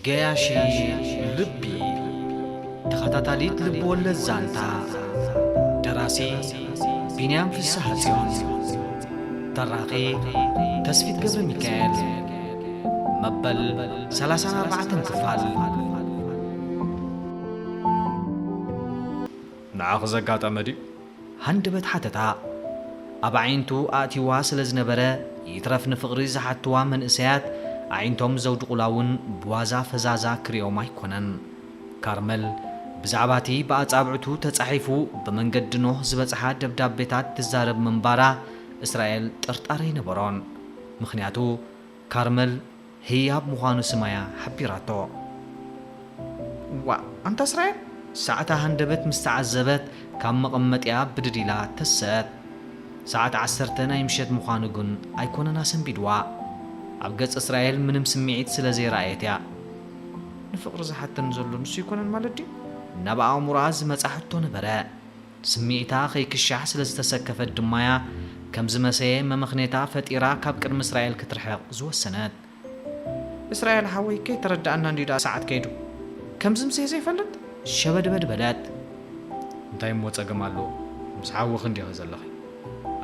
ገያሺ ልቢ ተኸታታሊት ልብወለድ ዛንታ ደራሲ ቢንያም ፍስሓጽዮን ተራኺ ተስፊት ገብረ ሚካኤል መበል ሰላሳን ኣርባዕተን ክፋል ንዓኺ ዘጋጠመ ድዩ? ሃንደበት ሓተታ ኣብ ኣዒንቱ ኣእትዩዋ ስለ ዝነበረ፣ ይትረፍ ንፍቕሪ ዝሓትዋ መንእሰያት ኣዒንቶም ዘውድቑላ እውን ብዋዛ ፈዛዛ ክርእዮም ኣይኰነን። ካርመል ብዛዕባ እቲ ብኣጻብዕቱ ተጻሒፉ ብመንገዲ ኖህ ዝበጽሓ ደብዳቤታት ትዛረብ ምንባራ እስራኤል ጥርጣረ ኣይነበሮን። ምኽንያቱ። ካርመል ህያብ ምዃኑ ስማያ ሓቢራቶ። እዋእ ኣንታ እስራኤል! ሰዓታ ሃንደበት ምስ ተዓዘበት ካብ መቐመጢኣ ብድድ ኢላ ተሰት። ሰዓት ዓሰርተ ናይ ምሸት ምዃኑ ግን ኣይኮነን ኣሰንቢድዋ። ኣብ ገጽ እስራኤል ምንም ስምዒት ስለ ዘይረኣየት እያ። ንፍቕሪ ዝሓተኒ ዘሎ ንሱ ኣይኮነን ማለት ድዩ? እናብ ኣእምሮኣ ዝመጻ ሕቶ ነበረ። ስምዒታ ኸይክሻሕ ስለ ዝተሰከፈት ድማ እያ፣ ከም ዝመሰየ መመኽኔታ ፈጢራ ካብ ቅድሚ እስራኤል ክትርሕቕ ዝወሰነት። እስራኤል ሓወይ፣ ከይተረድኣና እንድዩ ደኣ ሰዓት ከይዱ፣ ከም ዝምሰየ ዘይፈልጥ? ሸበድበድ በለት። እንታይ እሞ ጸገም ኣለዎ፣ ምስ ሓውኺ እንዲኺ ዘለኺ፣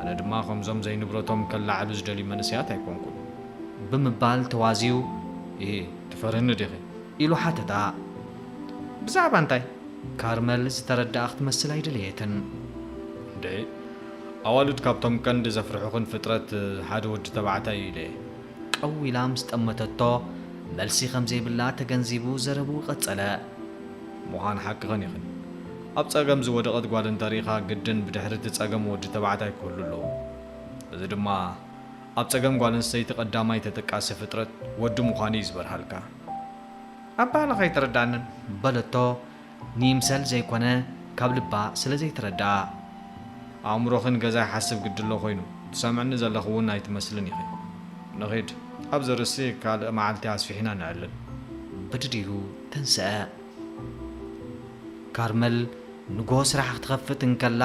ኣነ ድማ ከምዞም ዘይንብረቶም ከለዓዕሉ ዝደልዩ መንእሰያት ኣይኰንኩን። ብምባል ተዋዝዩ። እሂ፣ ትፈርህኒ ዲኺ? ኢሉ ሓተታ። ብዛዕባ እንታይ? ካርመል ዝተረደኣ ክትመስል ኣይደለየትን። እንደ ኣዋልድ ካብቶም ቀንዲ ዘፍርሑኽን ፍጥረት ሓደ ወዲ ተባዕታይ እዩ ኢለየ። ቀው ኢላ ምስ ጠመተቶ፣ መልሲ ከም ዘይብላ ተገንዚቡ ዘረብኡ ቀጸለ። ምዃን ሓቅኽን ኢኽን። ኣብ ጸገም ዝወደቐት ጓል እንተ ርኢኻ ግድን ብድሕሪ እቲ ጸገም ወዲ ተባዕታይ ክህሉ ኣለዎ። እዚ ድማ ኣብ ጸገም ጓል ኣንስተይቲ ቀዳማይ ተጠቃሲ ፍጥረት ወዲ ምዃኑ እዩ ዝበርሃልካ። ኣበሃህላኻ ኣይተረድኣንን በለቶ ንይምሰል ዘይኮነ ካብ ልባ ስለ ዘይተረድኣ። ኣእምሮኺ ንገዛ ይሓስብ ግድ'ሎ ኮይኑ ትሰምዕኒ ዘለኺ ውን ኣይትመስልን ኢኺ። ንኺድ ኣብዚ ርእሲ ካልእ መዓልቲ ኣስፊሕና ነዕልል። ብድድ ኢሉ ተንስኣ። ካርመል ንግሆ ስራሕ ክትኸፍት እንከላ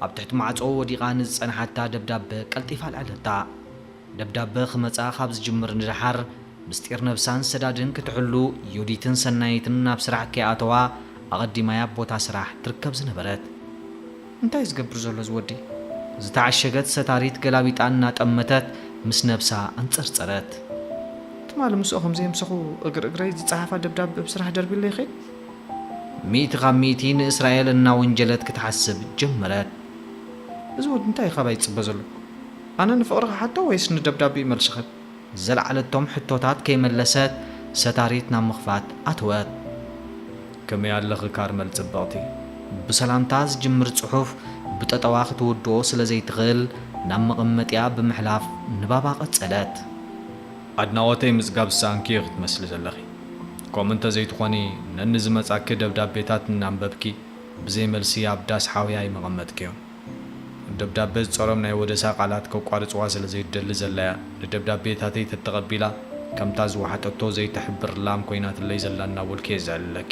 ኣብ ትሕቲ ማዕጾ ወዲቓ ንዝጸንሓታ ደብዳበ ቀልጢፋ ኣልዐለታ። ደብዳበ ክመጻ ካብ ዝጅምር ንደሓር ምስጢር ነብሳን ሰዳድን ክትሕሉ ዮዲትን ሰናይትን ናብ ስራሕ ከይኣተዋ ኣቐዲማ'ያ ኣብ ቦታ ስራሕ ትርከብ ዝነበረት። እንታይ'ዩ ዝገብር ዘሎ እዚ ወዲ? ዝተዓሸገት ሰታሪት ገላቢጣ እናጠመተት ምስ ነብሳ ኣንጸርጸረት። ትማሊ ምስኦ ከም ዘየምሰኹ እግሪ እግረይ ዝጸሓፋ ደብዳበ ኣብ ስራሕ ደርቢለይ ኸይደ። ሚእቲ ካብ ሚእቲ ንእስራኤል እናወንጀለት ክትሓስብ ጀመረት። እዚ ወዲ እንታይ'ዩ ካባይ ዝጽበ ዘሎ? ኣነ ንፍቕሪ ክሓቶ ወይስ ንደብዳቤኡ መልሲ ክህብ? ዝለዓለቶም ሕቶታት ከይመለሰት ሰታሪት ናብ ምኽፋት ኣተወት። ከመይ ኣለኺ ካርመል ጽብቕቲ? ብሰላምታ ዝጅምር ጽሑፍ ብጠጠዋ ክትውድኦ ስለ ዘይትኽእል ናብ መቐመጢኣ ብምሕላፍ ንባባ ቀጸለት። ኣድናቖተይ ምጽጋብ ዝሰኣንኪ ኢኺ ትመስሊ ዘለኺ። ከምኡ እንተ ዘይትኾኒ ነንዝመጻኪ ደብዳቤታት እናንበብኪ ብዘይ መልሲ ኣብ ዳስ ሓውያይ ምቐመጥክዮም። ደብዳበ ዝጸሮም ናይ ወደሳ ቃላት ከቋርጽዋ ስለ ዘይትደሊ ዘላ'ያ ንደብዳቤታተይ ተተቐቢላ ከምታ ዝወሓጠቶ ዘይትሕብር ላም ኮይናትለይ ዘላ እናበልኩ'የ ዝዕልለኪ።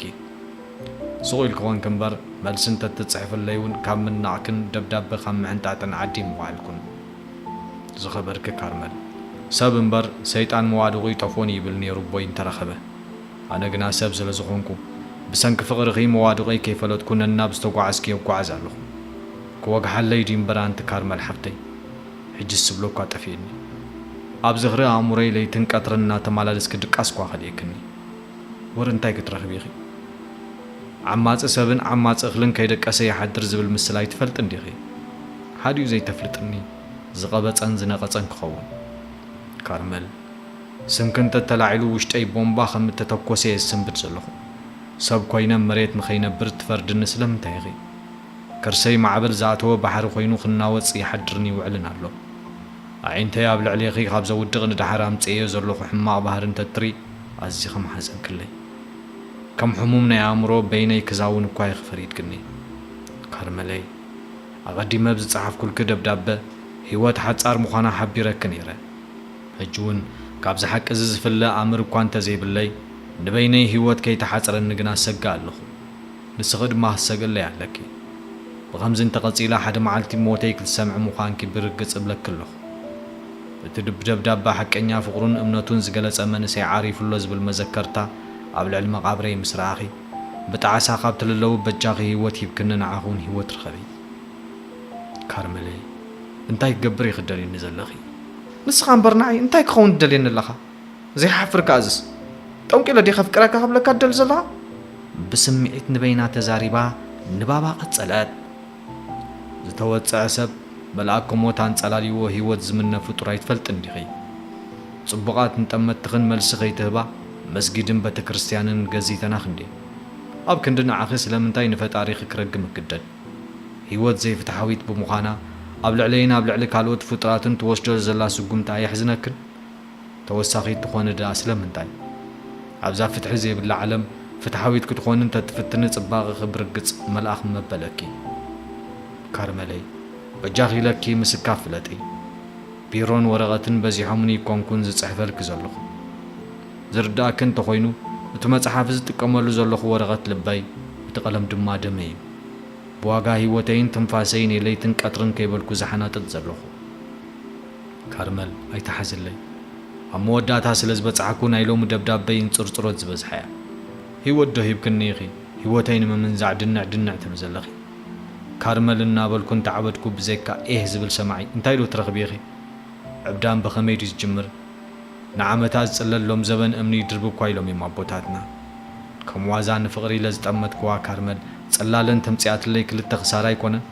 ሱቕ ኢልኪ ኾንኪ'ምበር መልሲ እንተትጽሕፍለይ'ውን ካብ ምንናቕክን ደብዳበ ካብ ምሕንጣጥን ዓዲ ምወዓልኩን። ዝኸበርኪ ካርመል። ሰብ እምበር ሰይጣን መዋድቑ ይጠፍኦን እዩ ይብል ነይሩ ኣቦይ እንተረኸበ። ኣነ ግና ሰብ ስለ ዝኾንኩ፣ ብሰንኪ ፍቕርኺ መዋድቐይ ከይፈለጥኩ ነናብ ዝተጓዓዝክዮ እጓዓዝ ኣለኹ። ክወግሓለይ ድዩ እምበር ኣንቲ ካርመል ሓፍተይ? ሕጂስ ዝብሎ'ኳ ጠፊኡኒ። ኣብ ዝኽሪ ኣእምሮይ ለይትን ቀትርን እናተማላለስኪ ድቃስ'ኳ ከሊእክኒ። ወረ እንታይ ክትረኽቢ ኢኺ? ዓማጺ ሰብን ዓማጺ እኽልን ከይደቀሰ ይሓድር ዝብል ምስላ ኣይትፈልጢ እንዲኺ። ሓዲኡ ዘይተፍልጥኒ ዝቐበጸን ዝነቐጸን ክኸውን። ካርመል። ስምኪ እንተ ተላዒሉ ውሽጠይ ቦምባ ከም እተተኮሰ እየ ዝስንብድ ዘለኹ። ሰብ ኮይነ መሬት ንኸይነብር ትፈርድኒ ስለምንታይ ኢኺ? ከርሰይ ማዕበል ዝኣተወ ባሕሪ ኮይኑ ክናወጽ ይሓድርን ይውዕልን ኣሎ። ኣዒንተይ ኣብ ልዕሌኺ ካብ ዘውድቕ ንደሓር ኣምጺኤዮ ዘለኹ ሕማቕ ባህሪ እንተ እትርኢ ኣዚኺ ምሓዘንክለይ። ከም ሕሙም ናይ ኣእምሮ በይነይ ክዛውን እኳ ኢኺ ፈሪድክኒ። ካርመለይ! ኣቐዲመ ብ ዝጸሓፍኩልኪ ደብዳበ ህይወት ሓጻር ምዃና ሓቢረኪ ነይረ። ሕጂ'ውን ካብዚ ሓቂ'ዚ ዝፍለ ኣምር እኳ እንተ ዘይብለይ፣ ንበይነይ ህይወት ከይተሓጽረኒ ግና እሰግእ ኣለኹ። ንስኺ ድማ ክትሰግእለይ ኣለኪ። ብኸምዚ እንተ ቐጺላ ሓደ መዓልቲ ሞተይ ክትሰምዒ ምዃንኪ ብርግጽ እብለኪ ኣለኹ። እቲ ብ ደብዳበ ሓቀኛ ፍቕሩን እምነቱን ዝገለጸ መንእሰይ ዓሪፉ'ሎ ዝብል መዘከርታ ኣብ ልዕሊ መቓብረይ ምስ ረኣኺ፣ ብጣዕሳ ካብ ትልለዊ በጃኺ ህይወት ሂብክኒ ንዓኺ'ውን ህይወት ርኸቢ። ካርመለይ፣ እንታይ ክገብር ኢኺ ትደልይኒ ዘለኺ? ንስኻ እምበር ንዓይ እንታይ ክኸውን ትደልየኒ ኣለኻ? ዘይሓፍር ከኣ እዝስ ጠንቂለ ድየ ከፍቅረካ ክብለካ ትደሊ ዘለኻ? ብስምዒት ንበይና ተዛሪባ ንባባ ቀጸለት። ዝተወጸዐ ሰብ መልኣከ ሞት ኣንጸላልይዎ ህይወት ዝምነ ፍጡር ኣይትፈልጥን ዲኺ? ጽቡቓት ንጠመትኽን መልሲ ከይትህባ መስጊድን በተክርስትያንን ገዚተናኽን ድየን? ኣብ ክንዲ ንዓኺ ስለምንታይ ንፈጣሪኺ ክረግም እግደድ? ህይወት ዘይፍትሓዊት ብምዃና፣ ኣብ ልዕለይን ኣብ ልዕሊ ካልኦት ፍጡራትን ትወስዶ ዘላ ስጉምቲ ኣየሕዝነክን? ተወሳኺት ትኾኒ ድኣ ስለምንታይ? ኣብዛ ፍትሒ ዘይብላ ዓለም፣ ፍትሓዊት ክትኾኒ እንተትፍትኒ ጽባቐኺ ብርግጽ መልኣኽ መበለኪ። ካርመለይ፣ በጃኺ ኢለኪ ምስካፍ ፍለጢ። ቢሮን ወረቐትን በዚሖምኒ ኣይኮንኩን ዝጽሕፈልኪ ዘለኹ። ዝርድኣኪ እንተኾይኑ እቲ መጽሓፍ ዝጥቀመሉ ዘለኹ ወረቐት ልበይ እቲ ቀለም ድማ ደመይ እዩ። ብዋጋ ህይወተይን ትንፋሰይን እየ ለይትን ቀትርን ከይበልኩ ዝሓናጥጥ ዘለኹ። ካርመል ኣይትሓዝለይ ኣብ መወዳእታ ስለ ዝበጻሕኩ ናይ ሎሚ ደብዳበይ እንጽርጽሮት ዝበዝሓ እያ። ህይወት ዶ ሂብክኒ ኢኺ ህይወተይ ንምምንዛዕ ድንዕ ድንዕ ትብሊ ዘለኺ? ካርመል እናበልኩ እንተዓበድኩ ብዘይካ ኤህ ዝብል ሰማዒ እንታይ ዶ ትረኽቢ ኢኺ? ዕብዳን ብኸመይ ድዩ ዝጅምር? ንዓመታ ዝጽለሎም ዘበን እምኒ ይድርብኳ ኢሎም እዮም ኣቦታትና። ከም ዋዛ ንፍቕሪ ኢለ ዝጠመትክዋ ካርመል ጽላለን ተምጺኣትለይ ክልተ ክሳራ ኣይኮነን?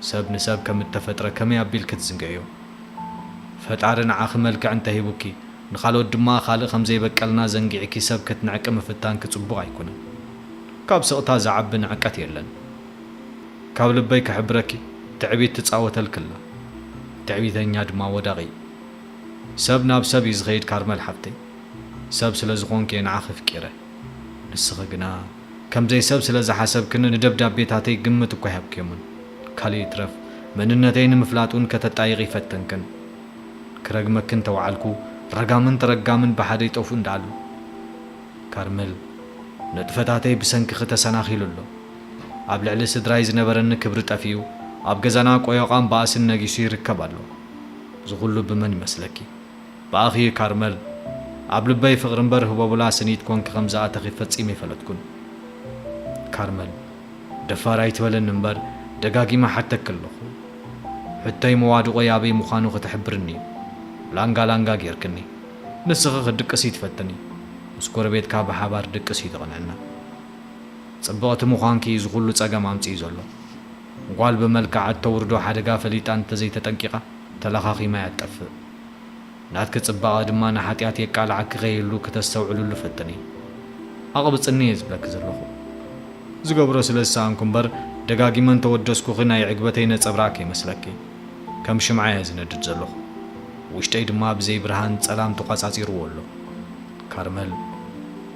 ሰብ ንሰብ ከም እተፈጥረ ከመይ ኣቢል ክትዝንግዕዮ? ፈጣሪ ንዓኺ መልክዕ እንተ ሂቡኪ ንኻልኦት ድማ ካልእ ከም ዘይበቀልና ዘንጊዕኪ ሰብ ክትንዕቂ ምፍታንኪ ጽቡቕ ኣይኮነን። ካብ ስቕታ ዝዓቢ ንዕቀት የለን። ካብ ልበይ ክሕብረኪ ትዕቢት ትጻወተልኪ ኣላ። ትዕቢተኛ ድማ ወዳቒ እዩ። ሰብ ናብ ሰብ እዩ ዝኸይድ ካርመል ሓፍተይ ሰብ ስለ ዝኾንኪ እየ ንዓኺ ፍቂረ ንስኺ ግና ከምዘይ ሰብ ስለ ዝሓሰብክኒ ንደብዳቤታተይ ግምት እኳ ኣይሃብክዮምን ካልእ ይትረፍ መንነተይ ንምፍላጥ ውን ከተጣይቒ ይፈተንክን ክረግመኪ እንተወዓልኩ ረጋምን ተረጋምን ብሓደ ይጠፍኡ እንዳኣሉ ካርመል ንጥፈታተይ ብሰንክኺ ተሰናኺሉ ኣሎ ኣብ ልዕሊ ስድራይ ዝነበረኒ ክብሪ ጠፊኡ ኣብ ገዛና ቆዮቛን ባእስን ነጊሱ ይርከብ ኣሎ። እዚ ኩሉ ብመን ይመስለኪ ብኣኺ እዩ ካርመል ኣብ ልበይ ፍቅሪ እምበር ህቦብላ ስኒት ኮንኪ ከምዝኣተኺ ፈጺመ ኣይፈለጥኩን ካርመል ደፋር ኣይትበለኒ እምበር ደጋጊመ ሓተኪ ኣለኹ ሕቶይ መዋድቆይ ኣበይ ምዃኑ ክትሕብርኒ እዩ ላንጋ ላንጋ ጌርክኒ ንስኺ ክትድቅሲ ትፈትኒ ምስ ጎረቤትካ ብሓባር ድቅስ እዩ ተቅንዕና ጽብቅቲ ምዃንኪ እዩ እዚ ኩሉ ጸገም ኣምጺኡ ዘሎ ጓል ብመልክዓ እተውርዶ ሓደጋ ፈሊጣ እንተ ዘይተጠንቂቓ፣ ተለኻኺማ እያ እትጠፍእ። ናትኪ ጽባቐ ድማ ንሓጢኣት የቃልዓኪ ኸይህሉ ክተስተውዕልሉ ፈትኒ። ኣቕብጽኒ እየ ዝብለኪ ዘለኹ። ዝገብሮ ስለ ዝሰኣንኩ እምበር፣ ደጋጊመ እንተ ወደስኩኺ ናይ ዕግበተይ ነጸብራቕ ከይመስለኪ። ከም ሽምዓ እየ ዝነድድ ዘለኹ። ውሽጠይ ድማ ብዘይ ብርሃን ጸላም ተቋጻጺርዎ ኣሎ። ካርመል፣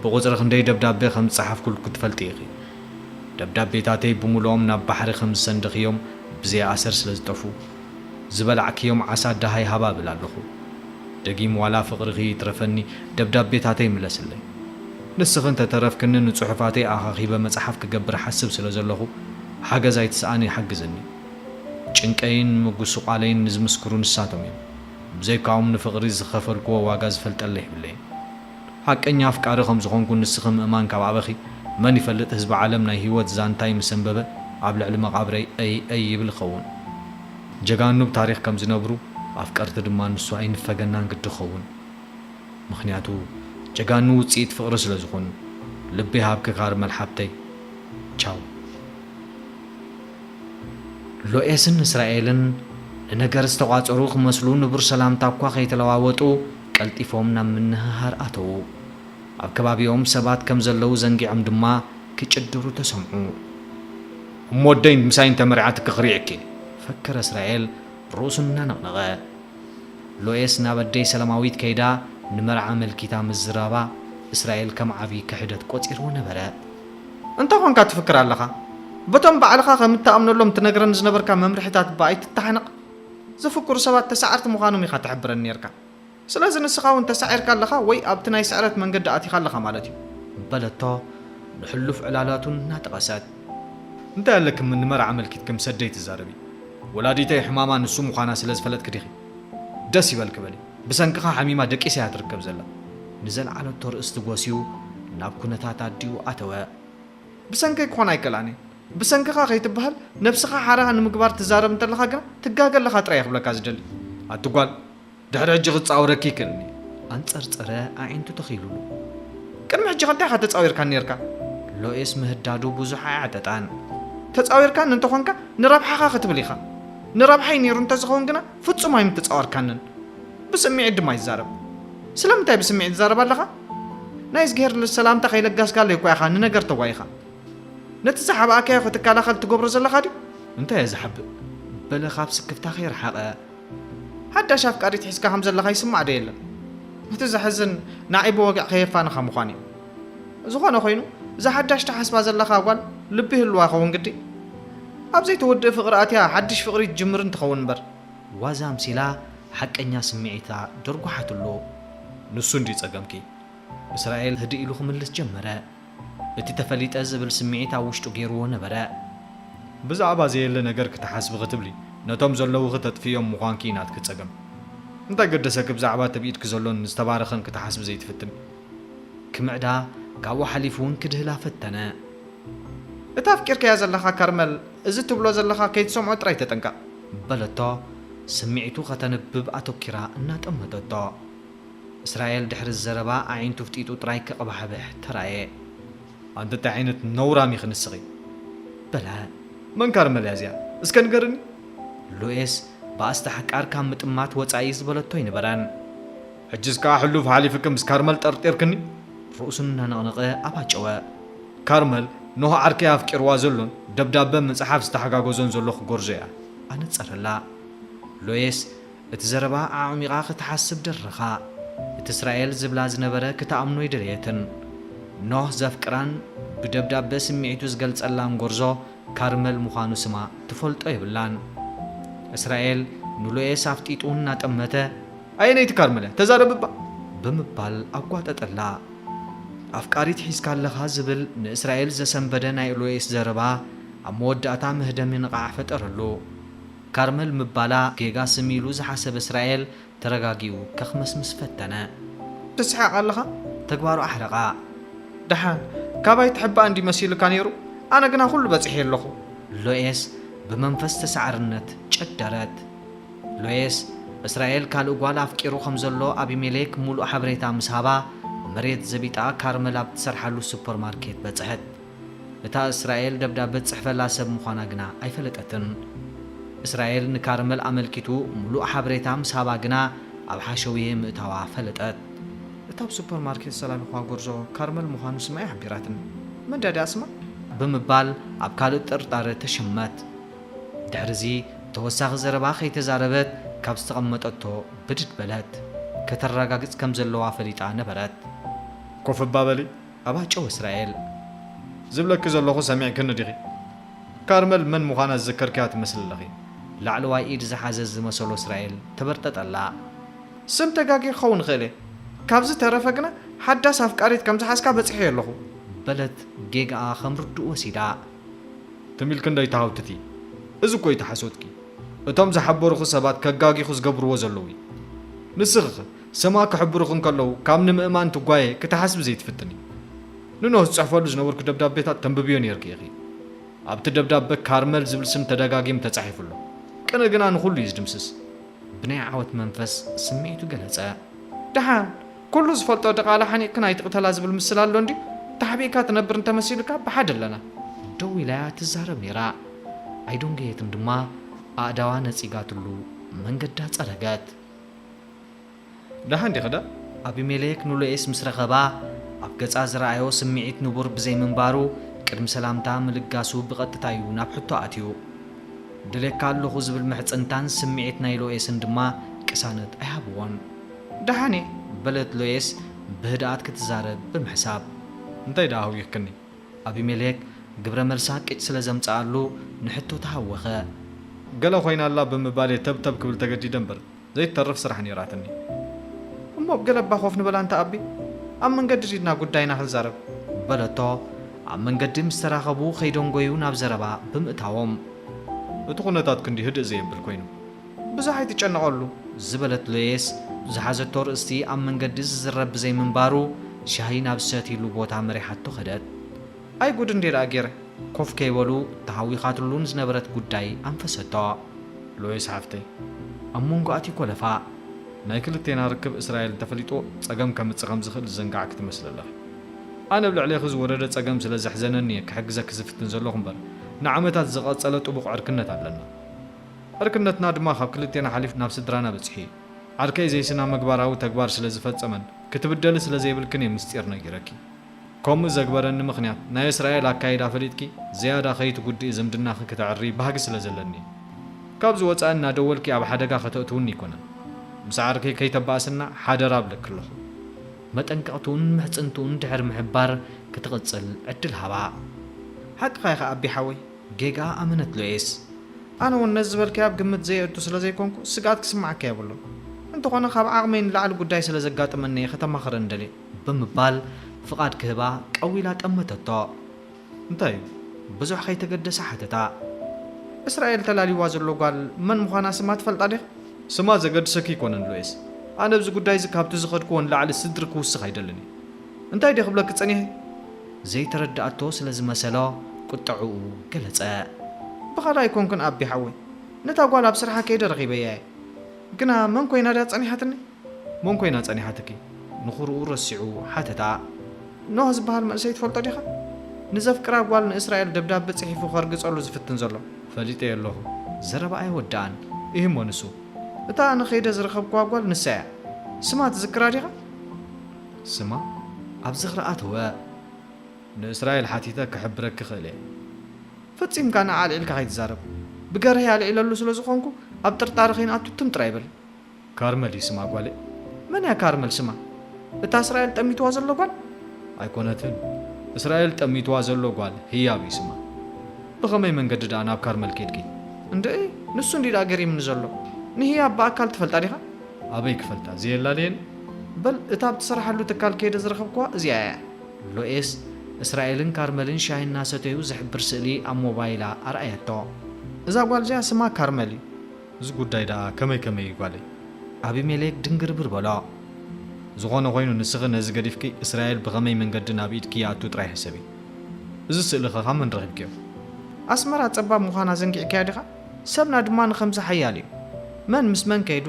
ብቑጽሪ ክንደይ ደብዳበ ከም ዝጸሓፍኩልኪ ትፈልጢ ኢኺ። ደብዳቤታተይ ብምሉኦም ናብ ባሕሪ ከም ዝሰንደኽዮም ብዘይ ኣሰር ስለ ዝጠፍኡ። ዝበላዕክዮም ዓሳ ደሃይ ሃባ እብል ኣለኹ። ደጊም ዋላ ፍቕርኺ ይትረፈኒ ደብዳቤታተይ ምለስለይ። ንስኺ እንተ ተረፍክኒ ንጽሑፋተይ ኣኻኺበ መጽሓፍ ክገብር እሓስብ ስለ ዘለኹ ሓገዝ ኣይትስኣኒ ሓግዝኒ። ጭንቀይን ምጉስቋለይን ንዝምስክሩ ንሳቶም እዮም። ብዘይካኦም ንፍቕሪ ዝኸፈልክዎ ዋጋ ዝፈልጠለይ የብለይን። ሓቀኛ ኣፍቃሪ ከም ዝኾንኩ ንስኺ ምእማን ካብ ኣበኺ መን ይፈልጥ ህዝቢ ዓለም ናይ ሂወት ዛንታይ ምስ ኣንበበ ኣብ ልዕሊ መቓብረይ እይ እይ ይብል ይኸውን ጀጋኑ ብ ታሪኽ ከም ዝነብሩ ኣፍቀርቲ ድማ ንሱ ኣይንፈገናን ግዲ ክኸውን ምኽንያቱ ጀጋኑ ውጽኢት ፍቕሪ ስለ ዝኾኑ ልቢ ይሃብኪ ካርመል ሓብተይ ቻው። ሎኤስን እስራኤልን ንነገር ዝተቋጸሩ ክመስሉ ንቡር ሰላምታ እኳ ከይተለዋወጡ፣ ቀልጢፎም ናብ ምንህሃር ኣተዉ። ኣብ ከባቢኦም ሰባት ከም ዘለዉ ዘንጊዖም ድማ ክጭድሩ ተሰምዑ። እሞ ኣደይ ምሳይ እንተ መሪዓትኪ ክሪኤኪ! ፈከረ እስራኤል ርእሱ እናነቕነቐ። ሎኤስ ናብ ኣደይ ሰላማዊት ከይዳ ንመርዓ ኣመልኪታ ምዝራባ እስራኤል ከም ዓቢ ክሕደት ቆጺርዎ ነበረ። እንታይ ኰንካ ትፍክር ኣለኻ? በቶም ባዕልኻ ከም እትኣምነሎም ትነግረኒ ዝነበርካ መምርሒታት እባ ኣይትተሓነቕ! ዝፍክሩ ሰባት ተሳዐርቲ ምዃኖም ኢኻ ትሕብረኒ ኔርካ። ስለዚ ንስኻ እውን ተሳዒርካ ኣለኻ ወይ ኣብቲ ናይ ስዕረት መንገዲ ኣቲኻ ኣለኻ ማለት እዩ። በለቶ ንሕሉፍ ዕላላቱ እናጠቐሰት። እንታይ ኣለክም ንመርዓ ኣመልኪትክም ሰደይ ትዛረቢ? ወላዲተይ ሕማማ ንሱ ምዃና ስለ ዝፈለጥኪ ዲኺ? ደስ ይበልኪ በሊ። ብሰንክኻ ሓሚማ ደቂሳ እያ ትርከብ ዘላ። ንዘልዓለቶ ርእስቲ ጎስዩ ናብ ኩነታት ኣዲኡ ኣተወ። ብሰንከይ ክኾን ኣይክእላን እዩ። ብሰንክኻ ከይትበሀል ነብስኻ ሓራ ንምግባር ትዛረብ እንተለኻ ግና ትጋገ ኣለኻ ጥራይ እየ ክብለካ ዝደሊ ኣቲ ጓል ድሕሪ ሕጂ ክጻወረኪ ክእልኒ ኣንጸርጸረ ኣዒንቱ ተኺሉሉ ቅድሚ ሕጂ ከ እንታይ ኢኻ ተጻዊርካኒ ኔርካ ሎኤስ ምህዳዱ ብዙሕ ኣየዕጠጣን ተጻዊርካኒ እንተኾንካ ንረብሓኻ ክትብል ኢኻ ንረብሓይ ኔሩ እንተዝኸውን ግና ፍጹም ኣይምተጻወርካንን ብስሚዒት ድማ ይዛረብ ስለምንታይ ብስሚዒት ትዛረብ ኣለኻ ናይ እዝግሄር ሰላምታ ከይለጋስካለይ እኳ ኢኻ ንነገር ተጓይኻ ነቲ ዝሓብኣካዮ ክትከላኸል ትገብሮ ዘለኻ ድዩ? እንታይ እየ ዝሓብእ? በለ ካብ ስክፍታ ከይረሓቐ። ሓዳሽ ኣፍቃሪት ሒዝካ ከም ዘለኻ ይስማዕ ዶ የለን? እቲ ዘሕዝን ንዓይ ብወግዒ ከየፋንኻ ምዃኑ እዩ። ዝኾነ ኮይኑ እዛ ሓዳሽ ትሓስባ ዘለኻ ጓል ልቢ ይህልዋ ይኸውን ግዲ? ኣብ ዘይተወድእ ፍቕሪ ኣትያ ሓድሽ ፍቕሪ ትጅምርን ትኸውን እምበር። ዋዛ ኣምሲላ ሓቀኛ ስምዒታ ደርጓሓትሉ። ንሱ እንድዩ ጸገምኪ። እስራኤል ህድእ ኢሉ ክምልስ ጀመረ። እቲ ተፈሊጠ ዝብል ስምዒት ኣብ ውሽጡ ገይሩዎ ነበረ። ብዛዕባ ዘየለ ነገር ክትሓስቢ ክትብሊ ነቶም ዘለዉኺ ተጥፍእዮም ምዃንኪ'ዩ ናትኪ ጸገም። እንታይ ገደሰኪ ብዛዕባ እቲ ኣብ ኢድኪ ዘሎን ዝተባረኸን ክትሓስቢ ዘይትፍትኒ? ክምዕዳ ካብኡ ሓሊፉ'ውን ክድህላ ፈተነ። እታ ኣፍቂርካያ ዘለኻ ከርመል እዚ ትብሎ ዘለኻ ከይትሰምዖ ጥራይ ተጠንቀቕ። በለቶ ስምዒቱ ከተንብብ ኣተኲራ እናጠመተቶ። እስራኤል ድሕሪዚ ዘረባ ኣዒንቱ ፍጢጡ ጥራይ ከቕባሕብሕ ተራእየ። ኣንተ እንታይ ዓይነት ነውራም ኢኺ ንስኺ? በለ። መን ካርመላ እያ እዚኣ? እስከ ንገርኒ? ሉኤስ ብኣስታሕቃር ካብ ምጥማት ወጻኢ ዝበለቶ ኣይነበረን። ሕጂስ ከኣ ሕሉፍ ሓሊፍኪ ምስ ካርመል ጠርጢርክኒ? ርእሱ እናነቕነቐ ኣባጨወ። ካርመል ኖህ ዓርከይ ኣፍቂርዋ ዘሎን ደብዳበ ምጽሓፍ ዝተሓጋገዞን ዘሎ ክጎርዞ እያ። ኣነጸረላ። ሉኤስ እቲ ዘረባ ኣዕሚቓ ክትሓስብ ደረኻ። እቲ እስራኤል ዝብላ ዝነበረ ክትኣምኖ ኣይደለየትን። ኖህ ዘፍቅራን ብደብዳበ ስምዒቱ ዝገልጸላን ጎርዞ ካርመል ምዃኑ ስማ ትፈልጦ የብላን። እስራኤል ንሎኤስ ኣፍጢጡ እናጠመተ። ኣየነይቲ ካርመል'ያ? ተዛረብ እባ! ብምባል ኣጓጠጠላ። ኣፍቃሪት ሒዝካ ኣለኻ ዝብል ንእስራኤል ዘሰንበደ ናይ ሎኤስ ዘረባ ኣብ መወዳእታ መህደሚ ንቓዕ ፈጠረሉ። ካርመል ምባላ ጌጋ ስም ኢሉ ዝሓሰበ እስራኤል ተረጋጊኡ ከክመስምስ ፈተነ። ትስሕቅ ኣለኻ? ተግባሩ ኣሕረቓ። ደሓን ካባይ ትሕባእ እንድዩ መሲሉካ ነይሩ፣ ኣነ ግና ኩሉ በጺሐዮ ኣለኹ። ሎኤስ ብመንፈስ ተሳዓርነት ጨደረት። ሎኤስ እስራኤል ካልእ ጓል ኣፍቂሩ ከም ዘሎ ኣቢሜሌክ ሙሉእ ሓበሬታ ምስ ሃባ፣ መሬት ዘቢጣ ካርመል ኣብ ትሰርሓሉ ሱፐርማርኬት በጽሐት። እታ እስራኤል ደብዳበ ትጽሕፈላ ሰብ ምዃና ግና ኣይፈለጠትን። እስራኤል ንካርመል ኣመልኪቱ ምሉእ ሓበሬታ ምስ ሃባ ግና ኣብ ሓሸውየ ምእታዋ ፈለጠት። እታ ኣብ ሱፐርማርኬት ዝሰላልኹዋ ጎርዞ ካርመል ምዃኑ ስማ ኣይሓቢራትን። መን ድያ እዲኣ ስማ? ብምባል ኣብ ካልእ ጥርጣረ ተሸመት። ድሕሪዚ ተወሳኺ ዘረባ ከይተዛረበት ካብ ዝተቐመጠቶ ብድድ በለት። ከተራጋግጽ ከም ዘለዋ ፈሊጣ ነበረት። ኮፍ እባ በሊ ኣባ ጨው እስራኤል! ዝብለኪ ዘለኹ ሰሚዕክኒ ዲኺ? ካርመል መን ምዃና ዝዘከርክያ ትመስሊ ኣለኺ። ላዕለዋይ ኢድ ዝሓዘ ዝመሰሎ እስራኤል ተበርጠጠላ። ስም ተጋግየ ክኸውን እኽእል እየ። ካብዚ ዝተረፈ ግና ሓዳስ ኣፍቃሪት ከም ዝሓዝካ በጺሐዮ ኣለኹ። በለት ጌጋኣ ከም ርዱእ ወሲዳ። ትም ኢልኪ እንዶ ኣይትሃውትቲ። እዚ እኮ እዩ እቲ ሓሶትኪ። እቶም ዝሓበሩኺ ሰባት ከጋግዩኺ ዝገብርዎ ዘለዉ እዩ። ንስኺኸ ስማ ክሕብሩኺ እንከለዉ ካብ ንምእማን ትጓየ ክትሓስቢ ዘይትፍትኒ። ንኖህ ዝጽሕፈሉ ዝነበርኩ ደብዳቤታት ተንብብዮ ኔርኪ ኢኺ። ኣብቲ ደብዳበ ካርመል ዝብል ስም ተደጋጊሙ ተጻሒፉ ኣሎ። ቅነ ግና ንኹሉ እዩ ዝድምስስ። ብናይ ዓወት መንፈስ ስምዒቱ ገለጸ። ደሓን ኩሉ ዝፈልጦ ድቓላ ሓኒቕክን ኣይትቕተላ ዝብል ምስላ ኣሎ እንድዩ። ተሓቢእካ ትነብር እንተመሲሉካ ብሓደ ኣለና። ደው ኢላ'ያ ትዛረብ ኔራ። ኣይዶንገየትን ድማ ኣእዳዋ ነጺጋትሉ መንገዳ ጸረገት። ደሓን ዲኽዳ? ኣቢሜሌክ ንሎኤስ ምስ ረኸባ፣ ኣብ ገጻ ዝረኣዮ ስምዒት ንቡር ብዘይምንባሩ፣ ቅድሚ ሰላምታ ምልጋሱ ብቐጥታ'ዩ ናብ ሕቶ ኣትዩ። እደልየካ ኣለኹ ዝብል ምሕጽንታን ስምዒት ናይ ሎኤስን ድማ ቅሳነት ኣይሃብዎን። ደሓን'የ፣ በለት ሎኤስ ብህድኣት ክትዛረብ ብምሕሳብ። እንታይ ደኣ ኣጒኽክኒ? ኣቢሜሌክ ግብረ መልሳ ቂጥ ስለ ዘምጽኣሉ ንሕቶ ተሃወኸ። ገለ ኾይና ኣላ ብምባል እየ ተብተብ ክብል ተገዲደ እምበር ዘይትተርፍ ስራሕ ነይራትኒ። እሞ ኣብ ገለ እባ ኮፍ ንበል ኣንታ ኣቢ፣ ኣብ መንገዲ ዲድና ጉዳይና ክንዛረብ። በለቶ። ኣብ መንገዲ ምስ ተራኸቡ ከይደንጎዩ ናብ ዘረባ ብምእታዎም። እቲ ኩነታት ክንዲ ህድእ ዘየብል ኮይኑ። ብዙሕ ኣይትጨነቐሉ ዝበለት ሎየስ፣ ዝሓዘቶ ርእስቲ ኣብ መንገዲ ዝዝረብ ብዘይምንባሩ፣ ሻሂ ናብ ዝሰትይሉ ቦታ መሪሓቶ ከደት። ኣይ ጉድ እንድየ ደኣ ገይረ! ኮፍ ከይበሉ ተሃዊኻትሉ ንዝነበረት ጉዳይ ኣንፈሰቶ። ሎየስ ሓፍተይ! ኣብ መንጎ ኣትዩ ኮለፋ። ናይ ክልቴና ርክብ እስራኤል እንተፈሊጦ ጸገም ከምጽእ ከም ዝኽእል ዝዘንጋዕኪ ትመስሊ ኣለኺ። ኣነ ኣብ ልዕሌኺ ዝወረደ ጸገም ስለ ዘሕዘነኒ እየ ክሕግዘኪ ዝፍትን ዘለኹ እምበር፣ ንዓመታት ዝቐጸለ ጥቡቕ ዕርክነት ኣለና። ዕርክነትና ድማ ካብ ክልቴና ሓሊፍ ናብ ስድራና በጺሑ እዩ። ዓርከይ ዘይስናምግባራዊ ተግባር ስለ ዝፈጸመን ክትብደሊ ስለ ዘይብልክን እየ ምስጢር ነጊረኪ። ከምኡ ዘግበረኒ ምኽንያት ናይ እስራኤል ኣካይዳ ፈሊጥኪ ዝያዳ ከይትጉድኢ ዝምድናኺ ክተዕርዪ ባህጊ ስለ ዘለኒ እዩ። ካብዚ ወጻኢ እናደወልኪ ኣብ ሓደጋ ከተእትውኒ ኣይኮነን። ምስ ዓርከይ ከይተባእስና ሓደራ እብለኪ ኣለኹ። መጠንቀቕትኡን ምሕጽንትኡን ድሕሪ ምሕባር ክትቕጽል ዕድል ሃባ። ሓቅኻ ኢኻ ኣቢ ሓወይ። ጌጋ ኣመነት ሉኤስ። ኣነ ውን ነዚ ዝበልካዮ ኣብ ግምት ዘየእቱ ስለ ዘይኮንኩ ስግኣት ክስምዓካ የብሉን። እንተኾነ ካብ ዓቕመይ ንላዕሊ ጉዳይ ስለ ዘጋጠመኒ እየ ከተማኽረኒ ደልየ። ብምባል ፍቓድ ክህባ ቀው ኢላ ጠመተቶ። እንታይ እዩ? ብዙሕ ከይተገደሰ ሓተታ። እስራኤል ተላልዩዋ ዘሎ ጓል መን ምዃና ስማ ትፈልጣ ዲኻ? ስማ ዘገድሰኪ ኣይኮነን ሉኤስ። ኣነ ኣብዚ ጉዳይ እዚ ካብቲ ዝኸድኩዎ ንላዕሊ ስድሪ ክውስኽ ኣይደልን እየ። እንታይ ድየ ክብለኪ ጸኒሐ? ዘይተረድኣቶ ስለ ዝመሰሎ ቁጠዕኡ ገለጸ። ብኻልእ ኣይኮንኩን ኣቢ ሓወይ ነታ ጓል ኣብ ስርሓ ከይደ ረኺበያ እየ ግና መን ኮይና ድያ ጸኒሓትኒ? መን ኮይና ጸኒሓትኪ? ንኹርኡ ረሲዑ ሓተታ። ኖህ ዝበሃል መንእሰይ ትፈልጦ ዲኻ? ንዘፍቅራ ጓል ንእስራኤል ደብዳበ ጽሒፉ ከርግጸሉ ዝፍትን ዘሎ። ፈሊጠዮ ኣለኹ። ዘረባ ኣይወደኣን እሂሞ ንሱ። እታ ኣነ ከይደ ዝረኸብክዋ ጓል ንሳ እያ። ስማ ትዝክራ ዲኻ? ስማ ኣብ ዝኽሪ ኣተወ። ንእስራኤል ሓቲተ ክሕብረኪ እኽእል እየ። ፈጺምካ ንዓ ኣልዒልካ ከይትዛረብ። ብገርሀይ ኣልዒለሉ ስለ ዝኾንኩ ኣብ ጥርጣረ ከይንኣቱ ትም ጥራይ በል። ካርመል እዩ ስማ ጓለይ። መን እያ ካርመል ስማ? እታ እስራኤል ጠሚትዋ ዘሎ ጓል? ኣይኮነትን። እስራኤል ጠሚትዋ ዘሎ ጓል ህያብ እዩ ስማ። ብኸመይ መንገዲ ድኣ ናብ ካርመል ኬድኪ? እንድዒ ንሱ እንድዩ ድኣ ገሪምኒ ዘሎ። ንህያብ ብኣካል ትፈልጣ ዲኻ? ኣበይ ክፈልጣ ዘየላ ድየን በል እታ ኣብ ትሰርሓሉ ትካል ከይደ ዝረኸብኩዋ እዚኣ እያ። ሎኤስ እስራኤልን ካርመልን ሻሂ እናሰተዩ ዝሕብር ስእሊ ኣብ ሞባይላ ኣርኣየቶ። እዛ ጓል እዚኣ ስማ ካርመል እዩ። እዚ ጉዳይ ደኣ ከመይ ከመይ እዩ ጓለይ? ኣቢሜሌክ ድንግርብር በሎ። ዝኾነ ኾይኑ ንስኺ ነዚ ገዲፍኪ እስራኤል ብኸመይ መንገዲ ናብ ኢድኪ ይኣቱ ጥራይ ሕሰቢ። እዚ ስእሊኸ ካብ መን ረኺብክዮ? ኣስመራ ጸባብ ምዃና ዘንጊዕካያ ዲኻ? ሰብና ድማ ንኸምዚ ሓያል እዩ። መን ምስ መን ከይዱ፣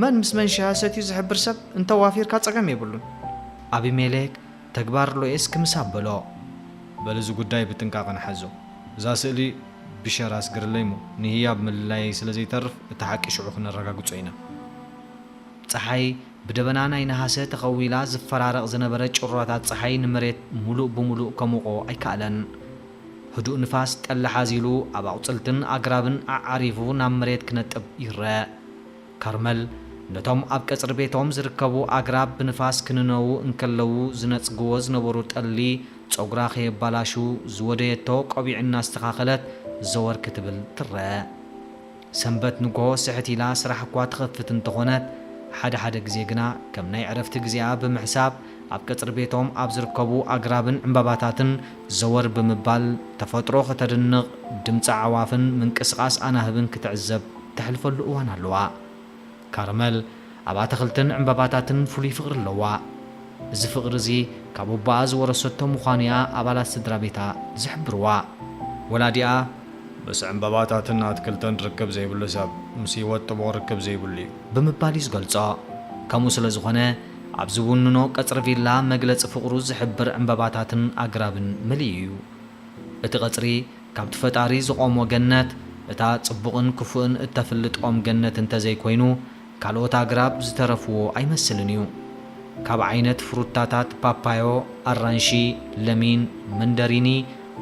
መን ምስ መን ሻሂ ሰትዩ ዝሕብር ሰብ እንተ ዋፊርካ ጸገም የብሉን። ኣቢሜሌክ ተግባር ሎኤስ ክምስ ኣበሎ። በል እዚ ጉዳይ ብጥንቃቐ ንሓዞ። እዛ ስእሊ ብሸር ኣስግርለይ'ሞ ንህያብ ምልላየይ ስለ ዘይተርፍ እቲ ሓቂ ሽዑ ክነረጋግጾ ኢና። ጸሓይ ብደበና ናይ ነሃሰ ተኸዊላ ዝፈራረቕ ዝነበረ ጭራታት ጸሓይ ንመሬት ምሉእ ብምሉእ ከሙቖ ኣይከኣለን። ህዱእ ንፋስ ጠሊ ሓዚሉ ኣብ ኣቑጽልትን ኣግራብን ኣዓሪቡ ናብ መሬት ክነጥብ ይረኣ። ካርመል ነቶም ኣብ ቀጽሪ ቤቶም ዝርከቡ ኣግራብ ብንፋስ ክንነዉ እንከለዉ ዝነጽግዎ ዝነበሩ ጠሊ ጸጉራ ከየባላሹ ዝወደየቶ ቆቢዕ እናስተኻኸለት ዘወር ክትብል ትረኣ። ሰንበት ንግሆ ስሕት ኢላ ስራሕ እኳ ትኸፍት እንተኾነት፣ ሓደ ሓደ ግዜ ግና ከም ናይ ዕረፍቲ ግዜኣ ብምሕሳብ ኣብ ቀጽሪ ቤቶም ኣብ ዝርከቡ ኣግራብን ዕምባባታትን ዘወር ብምባል ተፈጥሮ ከተድንቕ፣ ድምጺ ኣዕዋፍን ምንቅስቓስ ኣናህብን ክትዕዘብ ተሕልፈሉ እዋን ኣለዋ። ካርመል ኣብ ኣታኽልትን ዕምባባታትን ፍሉይ ፍቕሪ ኣለዋ። እዚ ፍቕሪ እዚ ካብ ኣቦኣ ዝወረሰቶ ምዃኑ እያ ኣባላት ስድራቤታ ዝሕብርዋ። ወላዲኣ፣ ምስ ዕምባባታትን ኣትክልትን ርክብ ዘይብሉ ሰብ፣ ምስ ህይወት ጥቡቕ ርክብ ዘይብሉ እዩ። ብምባል እዩ ዝገልጾ። ከምኡ ስለ ዝዀነ፣ ኣብ ዝውንኖ ቀጽሪ ቪላ መግለጺ ፍቕሩ ዝሕብር ዕምባባታትን ኣግራብን መሊኡ እዩ። እቲ ቀጽሪ፣ ካብቲ ፈጣሪ ዝቖሞ ገነት፣ እታ ጽቡቕን ክፉእን እተፍልጥ ኦም ገነት እንተ ዘይኮይኑ፣ ካልኦት ኣግራብ ዝተረፍዎ ኣይመስልን እዩ። ካብ ዓይነት ፍሩታታት ፓፓዮ፣ ኣራንሺ፣ ለሚን፣ መንደሪኒ፣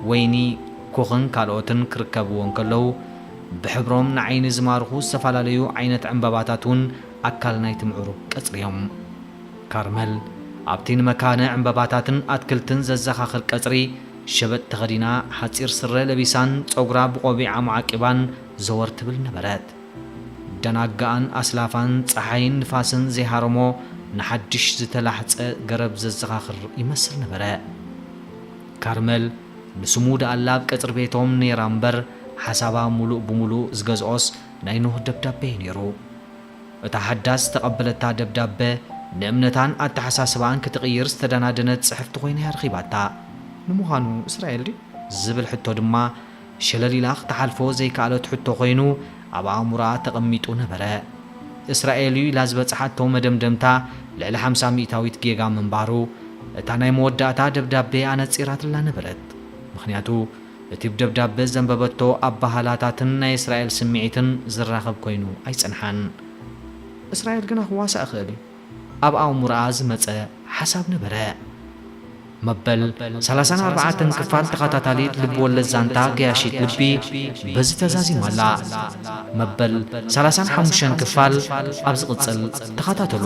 ወይኒ፣ ኩኽን ካልኦትን ክርከብዎ እንከለዉ፣ ብሕብሮም ንዓይኒ ዝማርኹ ዝተፈላለዩ ዓይነት ዕምባባታት እውን ኣካል ናይቲ ምዕሩግ ቀጽሪ እዮም። ካርመል፣ ኣብቲ ንመካነ ዕምባባታትን ኣትክልትን ዘዘኻኽር ቀጽሪ፣ ሸበጥ ተኸዲና፣ ሓጺር ስረ ለቢሳን ጸጉራ ብቖቢዕ ኣማዓቂባን ዘወር ትብል ነበረት። ደናጋኣን ኣስላፋን ጸሓይን ንፋስን ዘይሃረሞ ንሓድሽ ዝተላሕጸ ገረብ ዘዘኻኽር ይመስል ነበረ። ካርመል ንስሙ ደኣላ ኣብ ቀጽሪ ቤቶም ነይራ'ምበር፣ ሓሳባ ምሉእ ብምሉእ ዝገዝኦስ ናይ ኖህ ደብዳቤ'ዩ ነይሩ። እታ ሓዳስ ዝተቐበለታ ደብዳበ፣ ንእምነታን ኣተሓሳስባኣን ክትቕይር ዝተደናደነት ጽሕፍቲ ኮይና እያ ረኺባታ። ንምዃኑ እስራኤል ድዩ? ዝብል ሕቶ ድማ፣ ሸለል ኢላ ክትሓልፎ ዘይከኣለት ሕቶ ኮይኑ ኣብ ኣእምሮኣ ተቐሚጡ ነበረ። እስራኤል እዩ ኢላ ዝበጽሓቶ መደምደምታ ልዕሊ ሓምሳ ሚእታዊት ጌጋ ምንባሩ፣ እታ ናይ መወዳእታ ደብዳበ ኣነጺራትላ ነበረት። ምኽንያቱ፣ እቲ ደብዳበ ዘንበበቶ ኣበሃህላታትን ናይ እስራኤል ስምዒትን ዝራኸብ ኮይኑ ኣይጸንሓን። እስራኤል ግና ክዋሳእ ይኽእል እዩ ኣብ ኣእምሮኣ ዝመጸ ሓሳብ ነበረ። መበል ሰላሳን ኣርባዕተን ክፋል ተኸታታሊት ልብወለድ ዛንታ ገያሺት ልቢ በዚ ተዛዚማ ኣላ። መበል ሰላሳን ሓሙሽተን ክፋል ኣብ ዝቕጽል ተኸታተሉ።